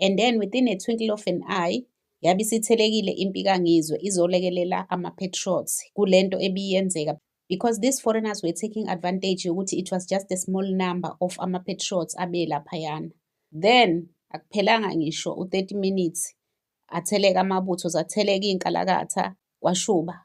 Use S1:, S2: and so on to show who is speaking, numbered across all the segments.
S1: and then within a twinkle of an eye yabe isithelekile impi kangizwe izolekelela ama-patriots kule nto ebiyenzeka because these foreigners were taking advantage yokuthi it was just a small number of ama-patriots abelaphayana then akuphelanga ngisho u-30 minutes atheleka amabutho zatheleka iy'nkalakatha kwashuba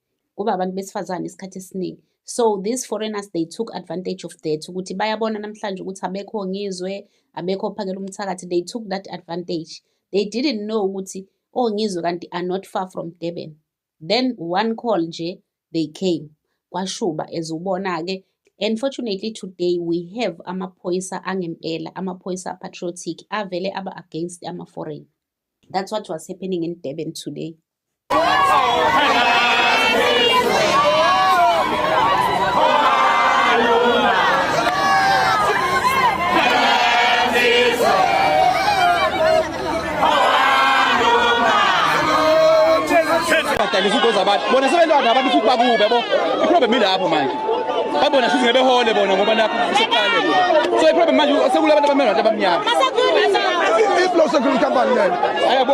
S1: kuba abantu besifazane isikhathi esiningi so these foreigners they took advantage of that ukuthi bayabona namhlanje ukuthi abekho ngizwe abekho ophakela umthakathi they took that advantage they didn't know ukuthi ongizwe oh, kanti are not far from durban then one call nje they came kwashuba as ubona-ke Unfortunately today we have amaphoyisa angempela, amaphoyisa patriotic avele aba against ama-foreign. That's what was happening in Durban today.
S2: badayisa izinto zabantu bona sebelwana abantu futhi bakubi yabo iproblem ilapho manje babona futhi ngebehole bona ngoba nakho sekuqale so iproblem manje sekulabantu abamele abantu abamnyama
S3: iblo security company leyo ayabo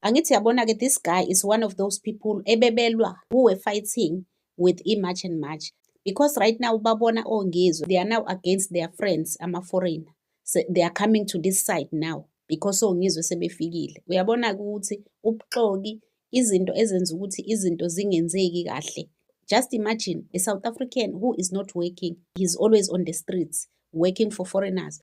S1: Angithi yabona ke this guy is one of those people ebebelwa who were fighting with iMarch and March because right now babona ongizwe oh, they are now against their friends ama-foreigner so they are coming to this side now because ongizwe oh, sebefikile uyabona ukuthi ubuxoki izinto ezenza ukuthi izinto zingenzeki kahle just imagine a south african who is not working he's always on the streets working for foreigners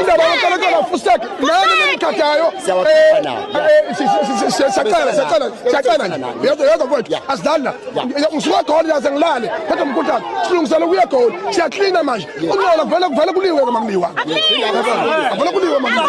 S3: indaba yonkolonkolo afuseki nani nimthathayo siyacela siyacela siyacela nje yedwa yedwa mfowethu asidlali la ngisuka egoli yaze ngilale kodwa mkhuthane silungisele ukuya egoli siyaklina manje unola vele kuvele kuliwe ke makuliwa vele kuliwe
S4: makuliwa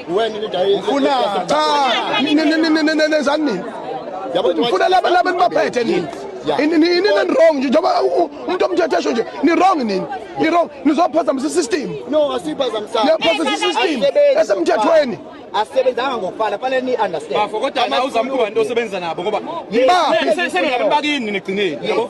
S3: Wena into ayi. Ufuna cha. Nezani nini? Yabo ufuna laba laba nibaphethe nini? Ini ini ini wrong nje njengoba umuntu omthethesho nje ni wrong nini? Ni wrong nizophazamisa system. No asiphazamisa.
S4: Niyaphazamisa system
S3: esemthethweni. asebenzanga
S4: ngokufana fanele ni understand bafo kodwa awuzama
S2: ukuba into osebenza nabo ngoba senu nabo bakini nigcineni yabo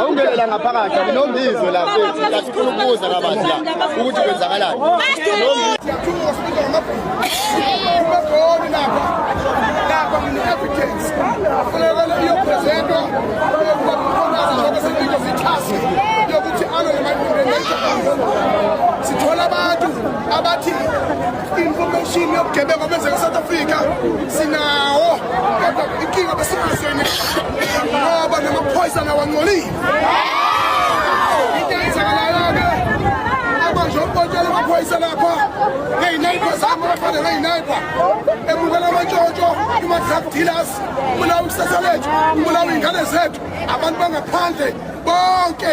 S5: awungenela ngaphakathi
S4: akunomizwe la sifuna ukubuza kabanzi la ukuthi kwenzakalani sithola
S3: abantu abathi information yobugebengu obenzeka eSouth Africa sinawo kodwa inkinga besinazo yini ngoba namaphoyisa nawangcolile into eyenzakalayo-ke abanje ukubontshela amaphoyisa lapha ngeyinayibha zami abafana ngeyinayibha ebukela amantshontsho ima-drug dealers ubulawa ikusasa lethu ubulawa iy'ngane zethu abantu bangaphandle bonke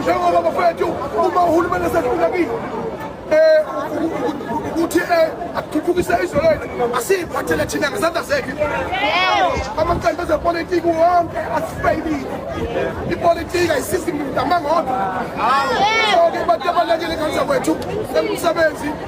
S3: njengoba bafethu uma uhulumeni esedlula kini um ukuthi um athuthukise izwe lethu asiyiphathele thina ngezandla zethu amaqembu ezepolitiki wonke asifeyilile ipolitiki ayisizi muntu amangodwa soke abantu abalekele kanza kwethu emsebenzi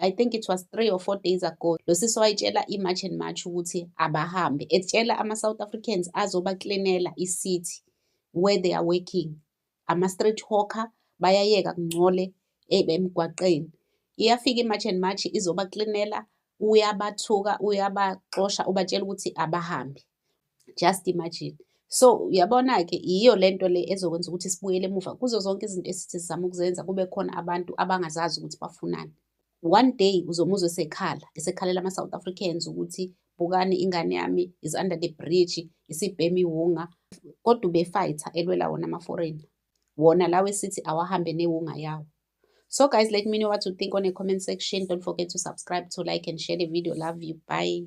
S1: I think it was three or four days ago lo sisi wayitshela i-march and march ukuthi abahambe etshela ama-south africans azobaklinela i-city where they are working ama-street hawker bayayeka kungcole eh, emgwaqeni iyafika i-march and march izobaklinela uyabathuka uyabaxosha ubatshela ukuthi abahambe just imagine so uyabona-ke yiyo le nto le ezokwenza ukuthi sibuyele emuva kuzo zonke izinto esithi sizama ukuzenza kube khona abantu abangazazi ukuthi bafunani one day uzomuzwa esekhala esekhalela ama-south africans ukuthi bukani ingane yami is under the bridge isibhemi wunga kodwa ubefayitha elwela wona ama-foreign wona lawo esithi awahambe newunga yawo So guys, let me know what you think on the comment section. Don't forget to subscribe, to like and share the video. Love you. Bye.